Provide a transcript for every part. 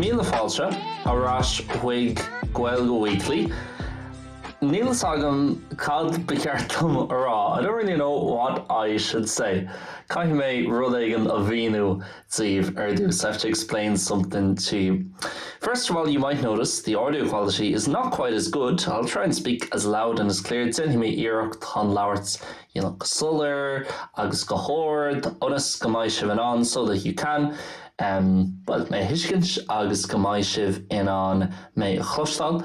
Míle fáilte ar ais chuig Gaeilge Weekly. Níl fhios agam cad ba cheart dom a rá, I don't really know what I should say. Caithfidh mé rud éigin a mhíniú daoibh ar dtús. So I have to explain something to you. First of all, you might notice the audio quality is not quite as good. I'll try and speak as loud and as clear. Déanfaidh mé iarracht chun labhairt you know, go soiléir agus go hard ionas go mbeidh sibh in ann so that you can um, well, mé thuiscint agus go mbeidh sibh in ann mé a chloisteáil.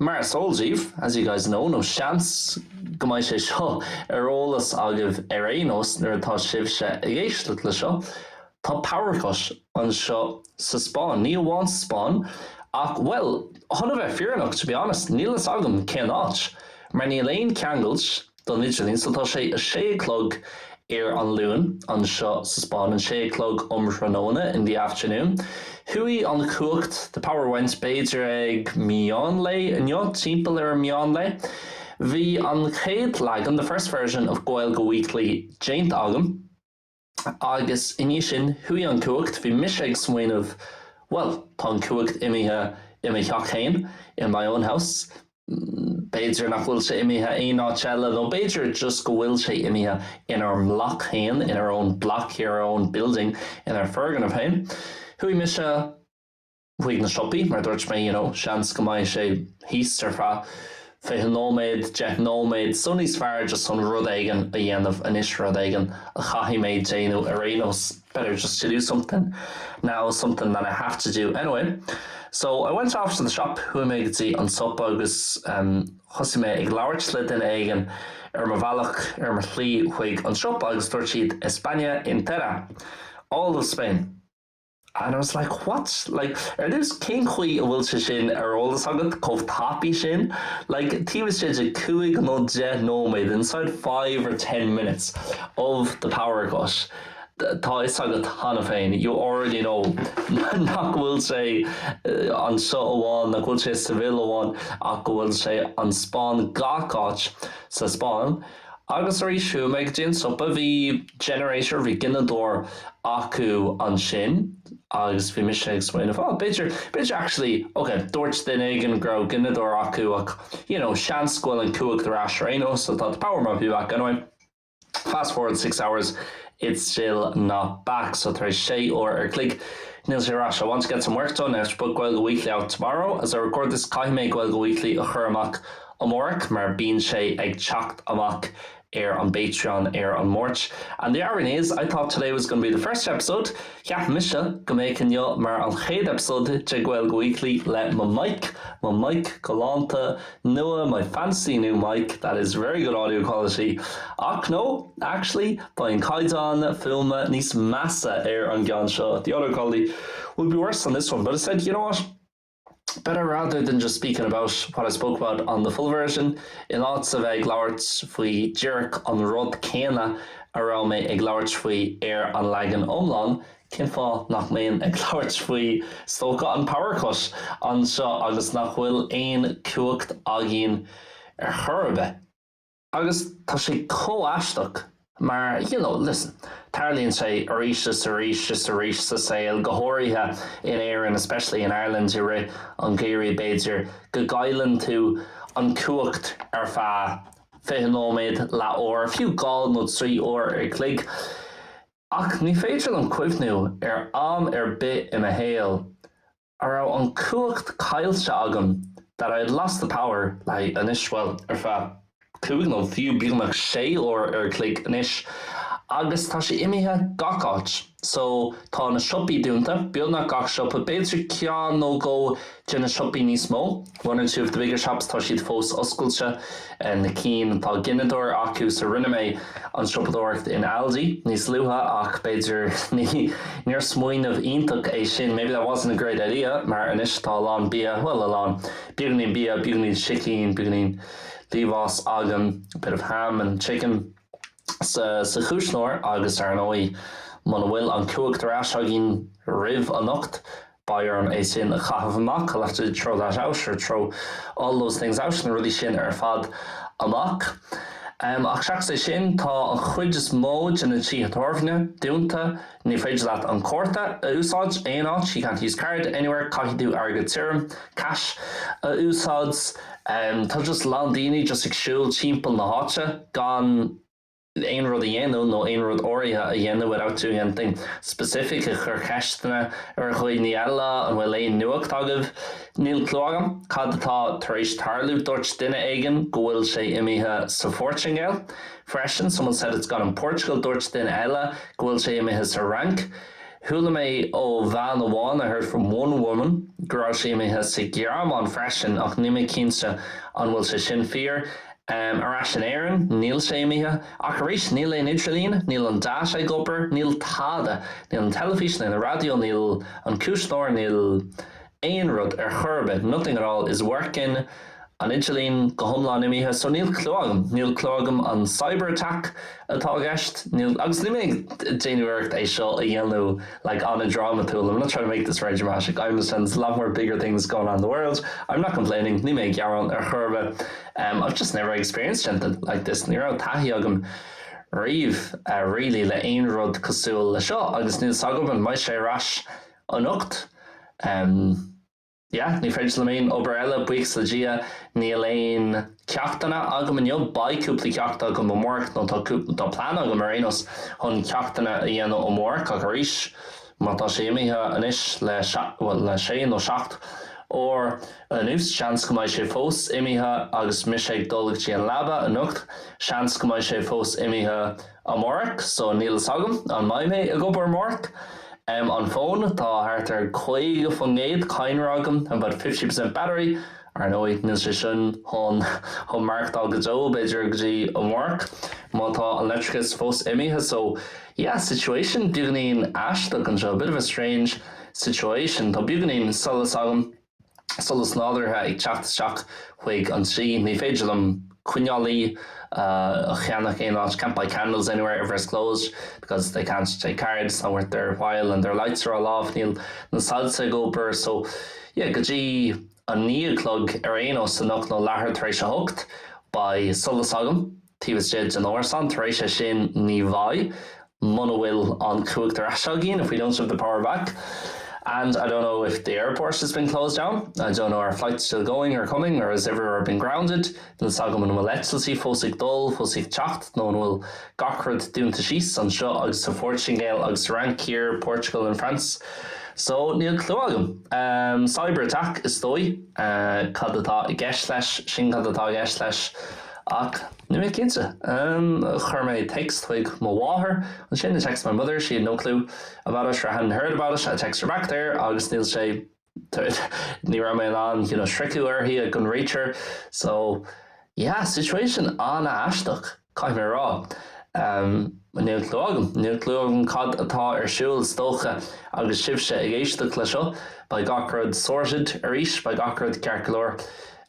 Mar is eol daoibh, as you guys know, nó seans go mbeidh sé seo ar eolas agaibh ar aon nós nuair atá sibhse ag éisteacht le seo, tá power cut anseo sa Spáinn. Ní amháin sa Spáinn ach, bhuel, chun a bheith fírinneach, to be honest, níl fhios agam cén áit, mar níl aon ceangailt, Don idirlíon so tá sé a sé a chlog ar an Luan, anseo sa Spáinn an sé a chlog um thráthnóna, in the afternoon. Chuaigh an chumhacht, the power went, b'fhéidir ag meán lae inniu, timpeall ar an meán lae. Bhí an chéad leagan, the first version, of Gaeilge Weekly déanta agam. Agus i ndiaidh sin, chuaigh an chumhacht, bhí mise ag smaoineamh, bhuel, tá an chumhacht imithe i mo theach féin, in my own house. B'fhéidir nach bhfuil sé imithe aon áit eile, nó b'fhéidir just go bhfuil sé imithe inár mbloc féin, in our own block here, our own building, inár bhfoirgneamh féin. Chuaigh mise. chuig na siopaí mar dúirt mé you know seans go mbeidh sé thíos ar feadh fiche nóiméad, deich nóiméad so níos fearr just chun rud éigin a dhéanamh anois rud éigin a chaithfidh mé déanamh ar aon nós better just to do something now something that I have to do anyway so I went off to the shop chuaigh mé go dtí an siopa agus um, thosaigh mé ag labhairt le duine éigin ar mo bhealach ar mo shlí chuig an shop agus dúirt siad España entera all of Spain And I was like, what? Like, ar dtús, cén chaoi a bhfuil sé sin ar eolas agat chomh tapaidh sin? Like, taobh istigh de cúig nó deich nóiméad, inside five or ten minutes of the power cut, tá 'fhios agat cheana féin, you already know, nach bhfuil sé anseo amháin, nach bhfuil sé Seville amháin, ach go bhfuil sé an Spáinn, gach áit sa Spáinn. Agus arís chuaigh mé go dtí an siopa. Bhí generator, bhí gineadóir acu ansin agus bhí mise ag smaoineamh, oh b'fhéidir, b'fhéidir actually, ok dúirt duine éigin go raibh gineadóir acu ach you know seans go bhfuil an cumhacht ar ais ar aon nós so tá the power might be back anyway. Fast forward six hours, it's still not back so tar éis sé uair a chloig níl sé ar ais. I want to get some work done, I have to put Gaeilge Weekly out tomorrow as I record this caithfidh mé Gaeilge Weekly a chur amach Amárach mar bíonn sé ag teacht amach ar an bPatreon ar an Máirt and the irony is, I thought today was going to be the first episode, cheap mise go mbeadh inniu mar an chéad eipeasóid de Gaeilge Weekly le mo mic, mo mic galánta nua, my fancy new mic that is very good audio quality, ach no, actually, beidh an caighdeán fuaime níos measa ar an gceann seo, the audio quality will be worse on this one, but I said, you know what? better rather than just speaking about what I spoke about on the full version, in áit a bheith ag labhairt faoi díreach an rud céanna a raibh mé ag labhairt faoi ar an leagan iomlán, cén fáth nach mbeinn ag labhairt faoi, is dócha, an power cut anseo agus nach bhfuil aon chumhacht againn ar chor ar bith? Agus tá sé chomh aisteach mar, you know, listen, tarlaíonn sé arís is arís is arís sa saol, go háirithe in Éirinn, especially in Ireland, i rith an gheimhridh b'fhéidir, go gcailleann tú an chumhacht ar feadh fiche nóiméad, leath uair, fiú dhá nó trí uair a chloig. Ach ní féidir liom cuimhniú ar am ar bith i mo shaol a raibh an cumhacht caillte agam, that I had lost the power, like, anois, bhuel, ar feadh cúig nó fiú beagnach sé uair a chloig anois. Agus tá sé imithe gach áit. So, tá na siopaí dúnta, beagnach gach siopa, b'fhéidir ceann nó dhó de na siopaí níos mó. One or two of the bigger shops, tá siad fós oscailte, na cinn atá gineadóir acu, so rinne mé an siopadóireacht in Aldi níos luaithe ach b'fhéidir ní, níor smaoineamh iontach é sin, maybe that wasn't a great idea mar anois tá a lán bia, bhuel a lán, beagáinín bia, beagáinín sicín, beagáinín liamhás agam, a bit of ham and chicken, sa, sa chuisneoir agus ar ndóigh muna bhfuil an cumhacht ar ais againn roimh anocht, Beidh orm é sin a chaitheamh amach, I'll have to throw that out or throw all those things out, na rudaí sin ar fad amach. Ach seachas é sin, tá an chuid is mó de na tithe tábhairne dúnta, ní féidir leat an cárta a úsáid aon áit, you can't use card anywhere, caithfidh tú airgead tirim, cash, a úsáid. Tá just a lán daoine just ag siúl timpeall na háite gan. aon rud a dhéanamh nó aon rud áirithe a dhéanamh without doing anything specific ag cur ceisteanna ar dhaoine eile, an bhfuil aon nuacht agaibh, níl clue agam cad atá tar éis tarlú dúirt duine éigin go bhfuil sé imithe sa Phortaingéil freisin someone said it's gone in Portugal dúirt duine eile go bhfuil sé imithe sa Fhrainc chuala mé ó bhean amháin I heard from one woman go raibh sé imithe sa Ghearmáin freisin ach níl mé cinnte an bhfuil sé sin fíor. Ar ais in Éirinn, níl sé imithe, ach arís, níl aon idirlíon, níl an data ag obair, níl tada, níl an teilifís, níl an raidió, níl an cúisneoir, níl aon rud ar chor ar bith, nothing at all is working, an idirlíon go hiomlán imithe, so níl clue agam, níl clue agam an cyber attack atá i gceist, níl, agus níl mé ag déanamh iarracht é seo a dhéanamh. like an-drámatúil, I'm not trying to make this very dramatic, I understand there's a lot more bigger things going on in the world, I'm not complaining, níl mé ag gearán ar chor ar bith, em, I've just never experienced anything like this, ní raibh taithí agam riamh, eh, really, le aon rud cosúil le seo agus níl 's agam an mbeidh sé ar ais anocht. Em. yeah, ní féidir liom aon obair eile, buíochas le Dia, níl aon ceachtanna agam inniu, beidh cúpla ceacht agam amárach nó tá cúpla, tá plean agam ar aon nós chun ceachtanna a dhéanamh amárach ach arís má tá sé imithe anois le bhuel le sé nó seacht uair anuas, seans go mbeidh sé fós imithe agus mise ag dul go dtí an leaba anocht, seans go mbeidh sé fós imithe. amárach, so níl fhios agam an mbeidh mé ag obair amárach. Em an fón, tá thart ar 50% cadhnra agam about 50% battery, ar ndóigh níl sé sin chun maireachtáil go deo b'fhéidir go dtí amárach má tá an leictreachas fós imithe so yeah situation beagáinín aisteach anseo bit of a strange situation tá beagáinín solas agam solas nádúrtha ag teacht isteach chuig an tigh. Ní féidir liom coinnle a cheannach aon áit, can't buy candles anywhere everywhere's closed because they can't take cards it's not worth their while and their lights are all off, níl na soilse ag obair so yeah go dtí a naoi a chlog ar aon nós anocht nó leathuair tar éis a hocht beidh solas agam. Taobh istigh den árasán, tar éis é sin ní bheidh, muna bhfuil an chumhacht ar ais againn, if we don't have the power back. And I don't know if the airport has been closed down, I don't know are flights still going or coming or has everywhere been grounded, níl 's agam an bhfuil eitiltí fós ag dul, fós ag teacht nó an bhfuil gach rud dúnta síos, anseo agus sa Phortaingéil agus sa Fhrainc, here, Portugal and France. So, níl clue agam. Cyber attack is dóigh, cad atá i gceist leis, sin cad atá i gceist leis. Ach níl mé cinnte. Chuir mé téacs chuig mo mháthair, ansin I text my mother, she had no clue about it, or hadn't heard about it, I text her back there agus níl sé, ní raibh mé in ann, you know, sroicheadh í, I couldn't reach her. So, yeah, situation an-aisteach, caithfidh mé a rá. Níl clue agam, níl clue agam cad atá ar siúl, is dócha agus sibhse ag éisteacht le seo, beidh gach rud sorted arís, beidh gach rud ceart go leor.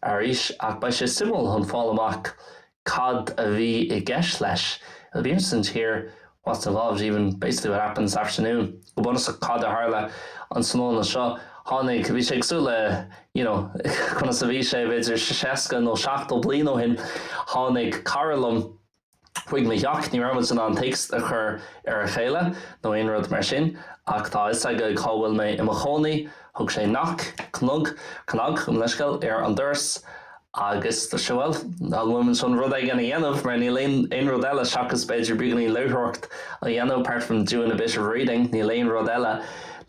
arís ach beidh sé suimiúil chun fáil amach cad a bhí i gceist leis it'll be interesting to hear what's involved even basically what happens this afternoon go bunúsach cad a tharla an tráthnóna seo tháinig bhí sé cosúil le you know conas a bhí sé b'fhéidir 60 nó 70 bliain ó shin tháinig cara liom Chuig mo theach, ní raibh muid in ann téacs a chur ar a chéile nó aon rud mar sin, ach tá a fhios aige cá bhfuil mé i mo chónaí. Thug sé knock, cnug, cnag, gabh mo leithscéal, ar an doras agus dúirt sé bhuel, an bhfuil muid chun rud éigin a dhéanamh mar níl aon aon rud eile seachas b'fhéidir beagainín léitheoireacht a dhéanamh apart from doing a bit of reading níl aon rud eile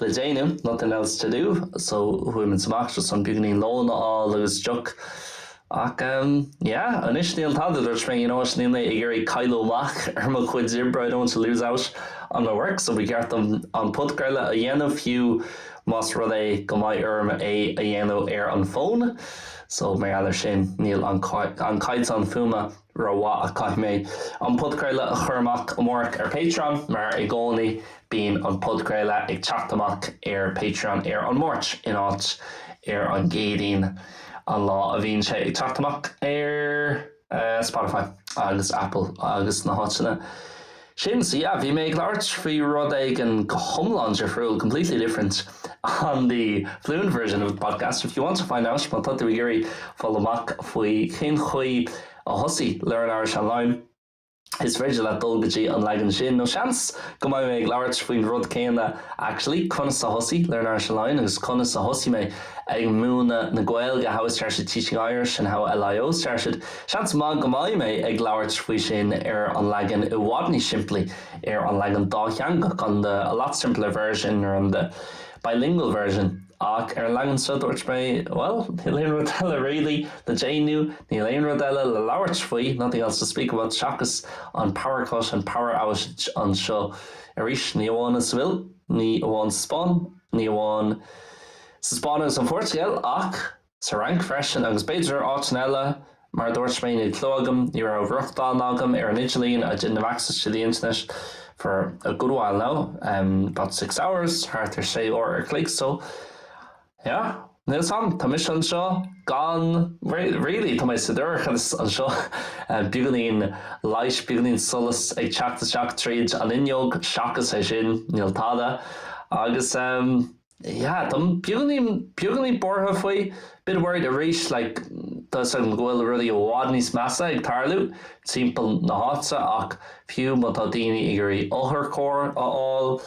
le déanamh nothing else to do so chuaigh muid amach just chun beagainín lón a fháil agus deoch Ach em, yeah, anois níl tada, a dúirt mé, you know what, níl mé ag iarraidh cailleadh amach ar mo chuid oibre, I don't want to lose out on my work, so ba cheart dom an podchraoladh a dhéanamh fiú más rud é go mbeidh orm é a dhéanamh ar an bhfón. So mar gheall ar sin, níl an caighdeán fuaime. Ró mhaith ach caithfidh mé an podchraoladh a chur amach amárach ar Patreon, mar i gcónaí bíonn an podchraoladh ag teacht amach ar Patreon ar an Máirt in áit ar an gCéadaoin, an lá a bhíonn sé ag teacht amach ar Spotify agus Apple agus na háiteanna Sin, so yeah, bhí mé ag labhairt faoi rud éigin go hiomlán difriúil, completely different, on the Fluent version of the podcast. If you want to find out, má tá tú ag iarraidh fáil amach faoi cén chaoi a thosaigh Learn Irish Online, is féidir leat dul go dtí an leagan sin, nó seans go mbeidh mé ag labhairt faoin rud céanna, actually, conas a thosaigh Learn Irish Online agus conas a thosaigh mé ag múineadh na Gaeilge, how I started teaching Irish and how LIO started. Seans maith go mbeidh mé ag labhairt faoi sin ar an leagan i bhfad níos simplí, ar an leagan dátheangach, on the a lot simpler version or on the bilingual version. Ach ar an leagan seo dúirt mé, bhuel, níl aon rud eile really le déanamh, níl aon rud eile le labhairt faoi, nothing else to speak about, seachas an power cut, an power outage anseo. Arís, ní amháin i Sevilla, ní amháin sa Spáinn, ní amháin sa Spáinn agus an Phortaingéil ach, Sa Fhrainc freisin, agus b'fhéidir áiteanna eile, mar a dúirt mé, níl clú agam, ní raibh rochtán agam ar an idirlíon, I didn't have access to the internet for a good while now, em, about six hours, thart ar sé uair an chloig, so, yeah, níl 's agam, tá mise anseo gan, really, tá mé sa dorchadas anseo, em, beagáinín light, beagáinín solas ag teacht isteach tríd an fhuinneog, seachas é sin, níl tada, agus, em. yeah, táim beagáinín buartha faoi, bit worried arís, like tá 'fhios agam go bhfuil rudaí i bhfad níos measa ag tarlú timpeall na háite ach fiú má tá daoine ag iarraidh otharcharr a fháil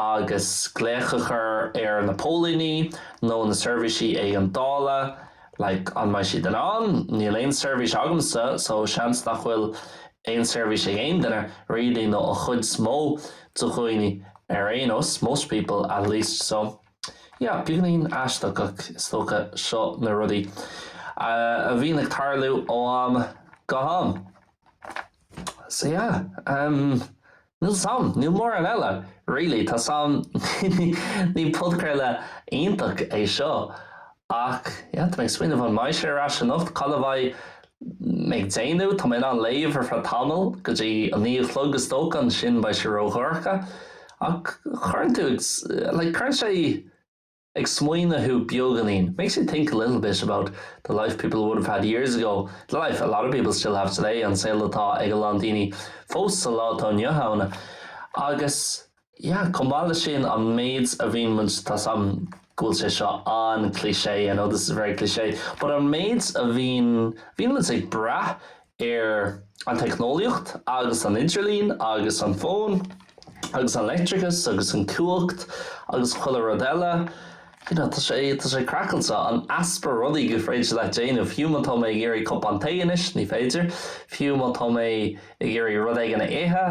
agus glaoch a chur ar na póilíní nó na seirbhísí éigeandála, like an mbeidh siad in ann? Níl aon seirbhís agamsa so seans nach bhfuil aon seirbhís ag aon duine really nó an chuid is mó de dhaoine. Ar aon nós, most people, at least. So yeah, beagáinín aisteach ach is dócha seo na rudaí a bhíonn ag tarlú ó am go ham. So yeah, um, níl 's agam, níl mórán eile, really, tá 's agam, ní podchraoladh iontach é seo. Ach yeah, tá mé ag smaoineamh an mbeidh sé ar ais anocht, cad a bheidh mé ag déanamh, tá mé in ann léamh ar feadh tamaill, go dtí a naoi a chlog is dócha, ansin beidh sé ródhorcha. Ach cuireann tú ag, like cuireann sé ag smaoineamh thú beagáinín, makes you think a little bit about the life people would have had years ago, the life a lot of people still have today, an saol atá ag a lán daoine fós sa lá atá inniu ann. Agus. Yeah, chomh maith leis sin, an méid a bhíonn muid, tá 's agam go bhfuil sé seo an-cliché, I know this is very cliché, but an méid a bhíonn, bhíonn muid ag brath ar an teicneolaíocht agus an idirlíon agus an fón agus an leictreachas agus an cumhacht agus chuile rud eile, you know, tá sé, tá sé craiceáilte, an easpa rudaí gur féidir leat déanamh, fiú má tá mé ag iarraidh cupán tae anois, ní féidir, fiú má tá mé ag iarraidh rud éigin a ithe,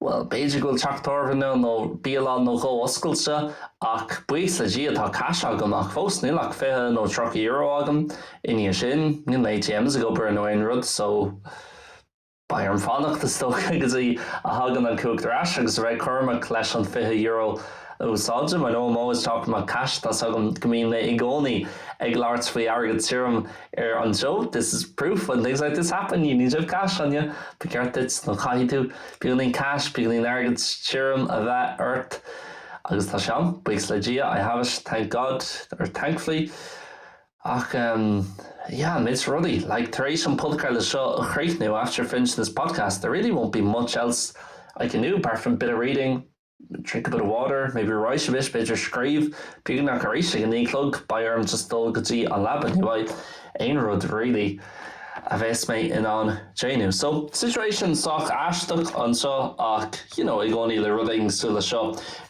Bhuel, b'fhéidir go bhfuil teach tábhairne nó bialann nó dhó oscailte, ach buíochas le Dia, tá cash agam, ach fós, níl ach fiche nó tríocha euro agam. I ndiaidh sin, níl na ATMs ag obair nó aon rud, so, beidh orm fanacht, is dócha, go dtí a thagann an cumhacht ar ais, agus a bheith cúramach leis an fiche euro a úsáidim. I know, I'm always talking about cash, tá 's agam go mbíonn mé i gcónaí ag labhairt faoi airgead tirim, Ar an show, this is proof when things like this happen, you need to have cash on you, ba cheart duit, nó caithfidh tú, beagáinín cash, beagáinín airgead tirim a bheith ort. Agus tá sé ann, buíochas le Dia, I have it, thank God, or thankfully. Ach, em, yeah, méid rudaí, like, tar éis an podchraoladh seo a chríochnú, after finishing this podcast, there really won't be much else I can do apart from bit of reading, Drink a bit of water, maybe write a bit, b'fhéidir scríobh beagáinín ach arís ag a naoi a chlog beidh orm just dul go dtí an leaba ní bheidh aon rud really a bheas mé in ann déanamh so situation sách aisteach anseo ach you know i gcónaí le rud éigin cosúil le seo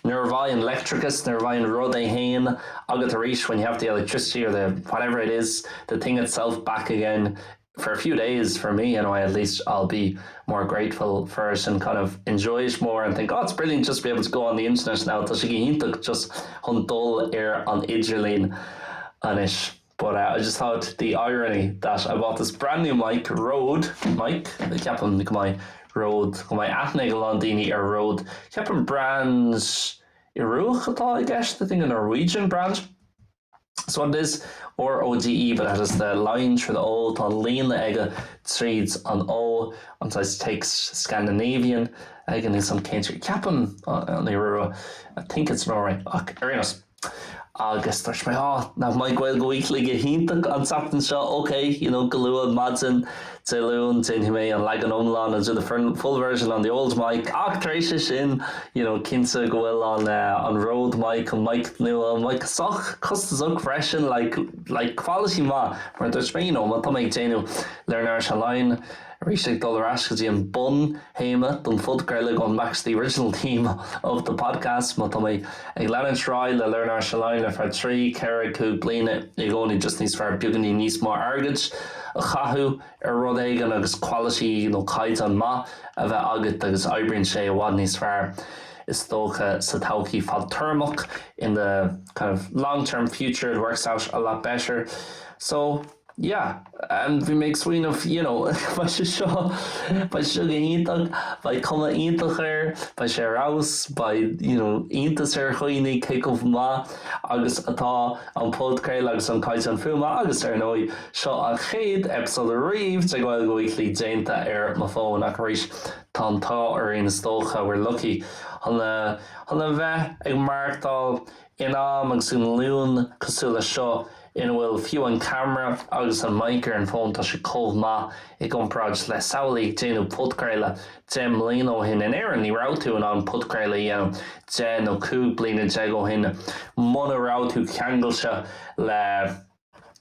nuair a bheidh an leictreachas nuair a bheidh an rud é fhéin agat arís when you have the electricity or the whatever it is the thing itself back again for a few days for me anyway at least I'll be more grateful for it and kind of enjoy it more and think oh it's brilliant just to be able to go on the internet now tá sé go hiontach just chun dul ar an idirlíon anois but uh, I just thought the irony that I bought this brand new mic, Rode mic ceapaim go mbeidh Rode go mbeidh aithne ag a lán daoine ar Rode ceapaim brand Ioruach atá i gceist I think a Norwegian brand. So what it is, R O D E but it has the line through the O, tá líne aige tríd an O, and so it's like Scandinavian again in some country ceapaim an Iorua I think it's Norway ach ar aon nós. Agus dúirt mé, 'Á, nach mbeidh Gaeilge Weekly go hiontach an tseachtain seo, ok, you know, go luath maidin. Dé Luain, déanfaidh mé an leagan iomlán, I'll do the fern, full version on the old mic, ach tar éis sin, you know, cinnte go bhfuil an eh, an Rode mic, an mic nua, mic sách costasach freisin, like, like quality maith, mar a dúirt mé, you know, má tá mé ag déanamh Learn Irish Online, arís ag dul ar ais go dtí an bun, théama don phodchraoladh an mac's the original theme of the podcast má tá mé ag leanúint ar aghaidh le learn irish online ar feadh trí, ceithre, cúig bliana i gcónaí just níos fearr beagainín níos mó airgead a chaitheamh ar rud éigin agus quality nó caighdeán maith a bheith agat agus oibríonn sé i bhfad níos fearr is dócha sa todhchaí fadtéarmach in the kind of long-term future it works out a lot better so Yeah bhí mé ag smaoineamh you know beidh sé seo beidh sé seo go hiontach, beidh cuma iontach air, beidh sé ar fheabhas, beidh you know iontas ar dhaoine cé chomh maith agus atá an podchraoladh agus an caighdeán fuaime agus ar ndóigh seo an chéad eipeasóid ariamh de Gaeilge Weekly déanta ar mo fón ach arís tá an t-ádh orainn is dócha we're lucky chun a chun a bheith ag maireachtáil In am agus i nglúin cosúil le seo ina bhfuil fiú an ceamara agus an mic ar an bhfón tá sé chomh maith i gcomparáid le samhlaigh ag déanamh podchraoladh deich mbliana ó shin. In Éirinn ní raibh tú in ann podchraoladh a dhéanamh deich nó cúig bliana déag ó shin muna raibh tú ceangailte le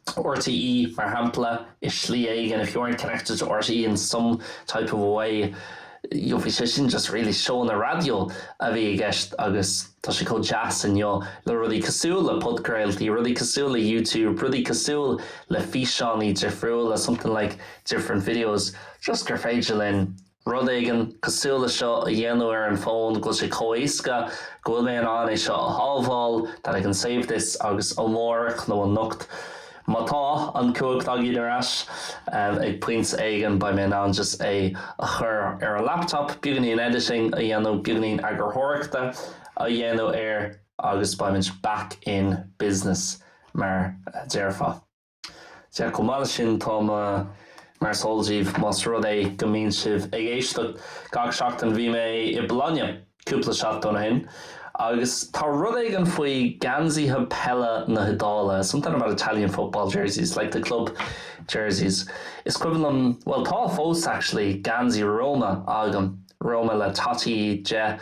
RTÉ, mar shampla, i slí éigin, if you weren't connected to RTÉ in some type of a way, you know, bhí sé sin just really seóanna raidió a bhí i gceist agus tá sé chomh deas inniu le rudaí cosúil le podchraoltaí, rudaí cosúil le YouTube, rudaí cosúil le físeánaí difriúla, something like different videos, just gur féidir linn. rud éigin cosúil le seo a dhéanamh ar an fón, go bhfuil sé chomh éasca, go bhfuil mé in ann é seo a shábháil, that I can save this, agus amárach nó anocht, má tá an cumhacht againn ar ais, ag pointe éigin beidh mé in ann just é a chur ar an laptop, beagainín editing a dhéanamh, beagainín eagarthóireachta a dhéanamh air agus beimid back in business mar a déarfá. Sea, chomh maith le sin, tá mé mar is eol díbh, más rud é go mbíonn sibh ag éisteacht gach seachtain, bhí mé i Bologna cúpla seachtain ó shin agus tá rud éigin faoi gheansaithe peile na hIodáile, something about Italian football jerseys, like the club jerseys, is cuimhin liom, bhuel tá fós actually, geansaí Roma agam. Roma le Totti deich,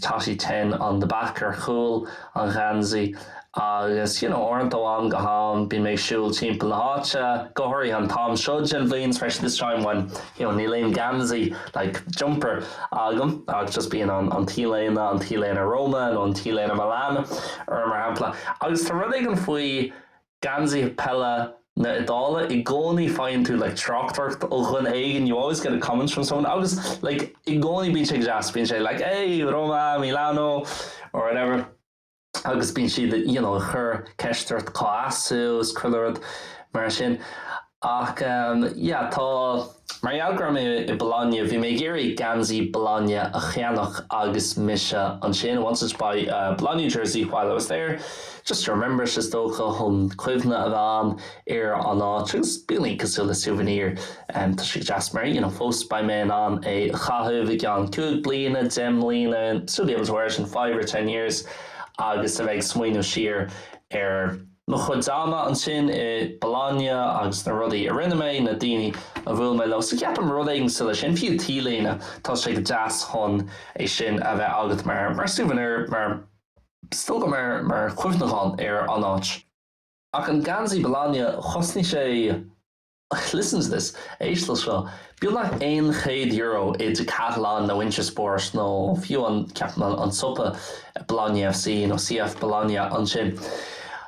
Totti ten on the back, ar chúl an gheansaí, agus you know uaireanta ó ham go ham bím ag siúl timpeall na háite, go háirithe an t-am seo den bhliain especially this time when you know níl aon geansaí like jumper agam agus just bíonn an an t-léine an t-léine Roma nó an t-léine Milan orm mar shampla agus tá rud éigin faoi Geansaí peile na Iodáile, i gcónaí faigheann tú like tráchtaireacht ó dhuine éigin, you always get a comment from someone agus like i gcónaí bíonn sé go deas, bíonn sé like hey Roma, Milano or whatever agus bíonn siad you know ag cur ceist ort cá as tú is chuile rud mar sin Ach yeah, tá. Mar gheall go raibh mé i Bologna, bhí mé ag iarraidh geansaí Bologna a cheannach agus mise ansin ann, I wanted to buy a Bologna jersey while I was there, just to remember it is dócha, chun cuimhne a bheith a'm ar an áit agus bíonn sé cosúil le souvenir, em, tá sé go deas mar, you know, fós beidh mé in ann é a chaitheamh i gceann cúig bliana, deich mbliana, still be able to wear it in five or ten years agus a bheith ag smaoineamh siar ar. mo chuid ama ansin i Bologna agus na rudaí a rinne mé, na daoine a bhuail mé leo. So ceapaim rud éigin cosúil le sin, fiú t-léine, tá sé go deas chun é sin a bheith agat mar, mar souvenir, mar, is dócha, mar, mar chuimhneachán ar an áit. Ach an geansaí Bologna, chosnaigh sé. Listen to this, éist le seo. Beagnach aon chéad euro i Decathlon nó Intersport nó fiú an, ceapaim, an siopa Bologna FC nó CF Bologna ansin.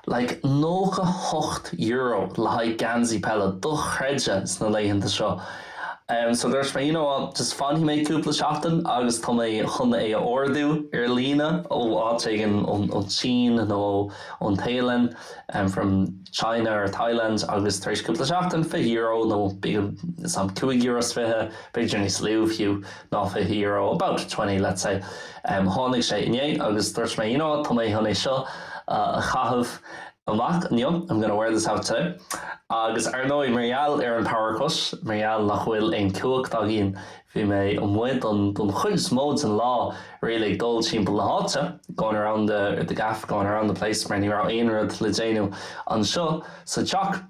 Like nócha a hocht euro le haghaidh geansaí peile, dochreidte sna laethanta seo. Em, so dúirt mé, you know what, just fanfaidh mé cúpla seachtain agus tá mé chun é a ordú ar líne ó áit éigin, ón tSín nó ón Téalainn, em, from, China or Thailand agus tar éis cúpla seachtain, fiche euro nó beag sum, cúig euro 's fiche, b'fhéidir níos lú fiú ná fiche euro, about twenty let's say, tháinig sé inné agus dúirt mé you know what, tá mé chun é seo a chaitheamh amach inniu, I'm gonna wear this out today. Agus ar ndóigh mar gheall ar an power cut, mar gheall nach bhfuil aon chumhacht againn Bhí mé amuigh don chuid is mó den lá, really ag dul timpeall na háite, going around the the gaff, going around the place, mar ní raibh aon rud le déanamh anseo sa teach.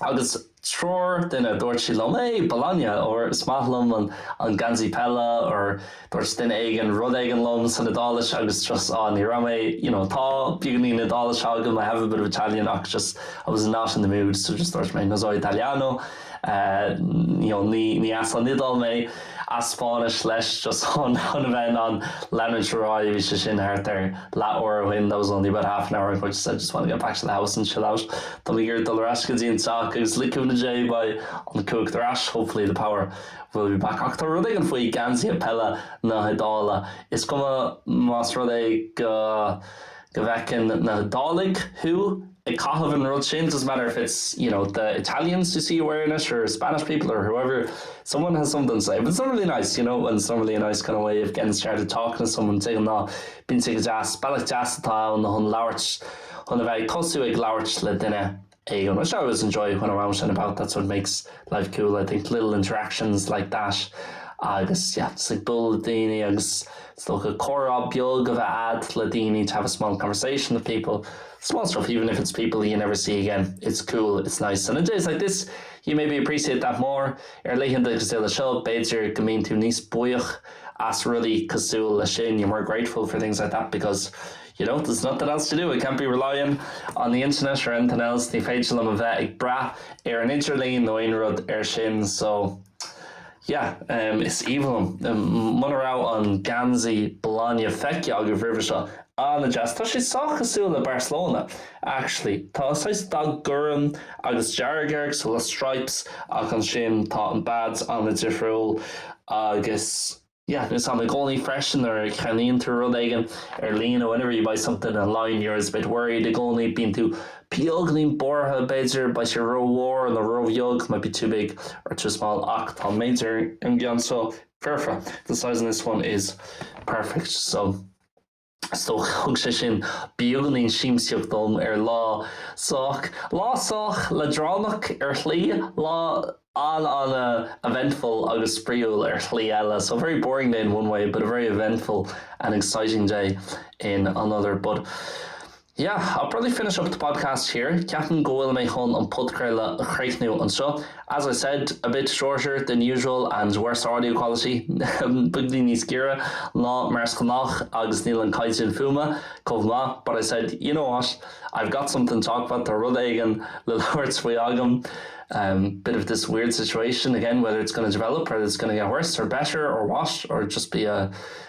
Agus triúr duine, dúirt siad liom, hey, Bologna, or is maith liom an an geansaí peile, or dúirt duine éigin rud éigin liom san Iodáilis agus just, ah, ní raibh mé, you know, tá beagáinín Iodáilise agam, I have a bit of Italian ach just, I was not in the mood, so just dúirt mé, no so italiano. you know ní as an Iodáil mé, as Spáinnis leis just chun a bheith in ann leanúint ar aghaidh, bhí sé sin thart ar leath uair ó shin, that was only about half an hour ago, I just said, I just want to get back to the house and chill out, tá mé ag dul ar ais go dtí an teach agus le cúnamh Dé beidh an cumhacht ar ais, hopefully the power will be back ach tá rud éigin faoi geansaithe peile na hIodáile, is cuma más rud é go. go bhfeiceann na hIodáiligh thú ag caitheamh an rud sin doesn't matter if it's, you know, the Italians who see you wearing it or Spanish people or whoever, someone has something to say. But it's normally nice, you know, and it's normally a nice kind of way of getting started talking to someone de ghnáth. Bíonn sé go deas, bealach deas atá ann chun labhairt, chun a bheith ag tosú ag labhairt le duine. Aodh, An bhfuil? I always enjoy when I'm out and about, that's what makes life cool I think, little interactions like that agus yeah just ag bualadh le daoine agus is dócha comhrá beag a bheith a'd le daoine to have a small conversation with people, small stuff even if it's people you never see again, it's cool, it's nice and on days like this you maybe appreciate that more ar laethanta cosúil le seo b'fhéidir go mbíonn tú níos buíoch as rudaí cosúil leis sin, you're more grateful for things like that because You know, there's nothing else to do, I can't be relying on the internet or anything else, ní féidir liom a bheith ag brath ar an idirlíon nó aon rud mar sin so yeah, um, is aoibhinn liom. Um, muna raibh an geansaí Bologna feicthe agaibh roimhe seo, an-deas, tá sé sách cosúil le Barcelona actually, tá saghas dath gorm agus dearg air so le stripes ach ansin tá an badge an-difriúil agus. Yeah, agus i gcónaí freisin nuair a cheannaíonn tú rud éigin ar líne whenever you buy something online you're always a bit worried i gcónaí bíonn tú beagáinín buartha b'fhéidir beidh sé rómhór nó róbheag might be too big or too small ach tá an méid ar an gceann seo foirfe the size on this one is perfect so so thug sé sin beagáinín siamsaíochta dom ar lá sách, lá sách leadránach ar shlí, lá an-eventful agus spraíúil ar shlí eile, so a very boring day in one way but a very eventful and exciting day in another, but. Yeah, I'll probably finish up the podcast here, ceapaim go bhfuil mé chun an podchraoladh a chríochnú anseo. As I said, a bit shorter than usual and worse audio quality, beagáinín níos giorra ná mar is gnách agus níl an caighdeán fuaime chomh maith, but I said, you know what, I've got something to talk about, tá rud éigin le labhairt faoi agam, um, bit of this weird situation again, whether it's going to develop whether it's going to get worse or better or what, or just be a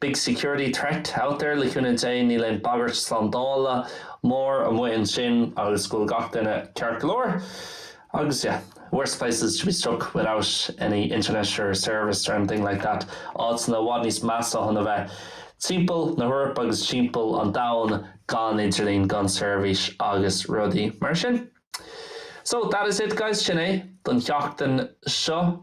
Big security threat out there le cúnamh Dé níl aon bagairt slándála mór amuigh ansin agus go bhfuil gach duine ceart go leor agus yeah worse places to be stuck without any internet or service or anything like that áiteanna i bhfad níos measa chun a bheith timpeall na hEorpa agus timpeall an domhain gan idirlín gan seirbhís agus rudaí mar sin. So that is it guys, sin é don sheachtain seo.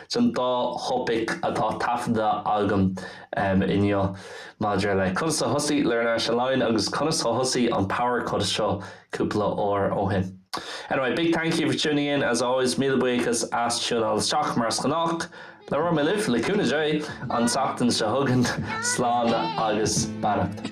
don dá thopaic atá taifeadta agam inniu maidir le conas a thosaigh Learn Irish Online agus conas a thosaigh an Power Cut seo cúpla uair ó shin. Anyway, big thank you for tuning in as always, míle buíochas as tiúnáil isteach mar is gnách. Labhróidh mé libh, le cúnamh Dé, an tseachtain seo chugainn. Slán agus beannacht.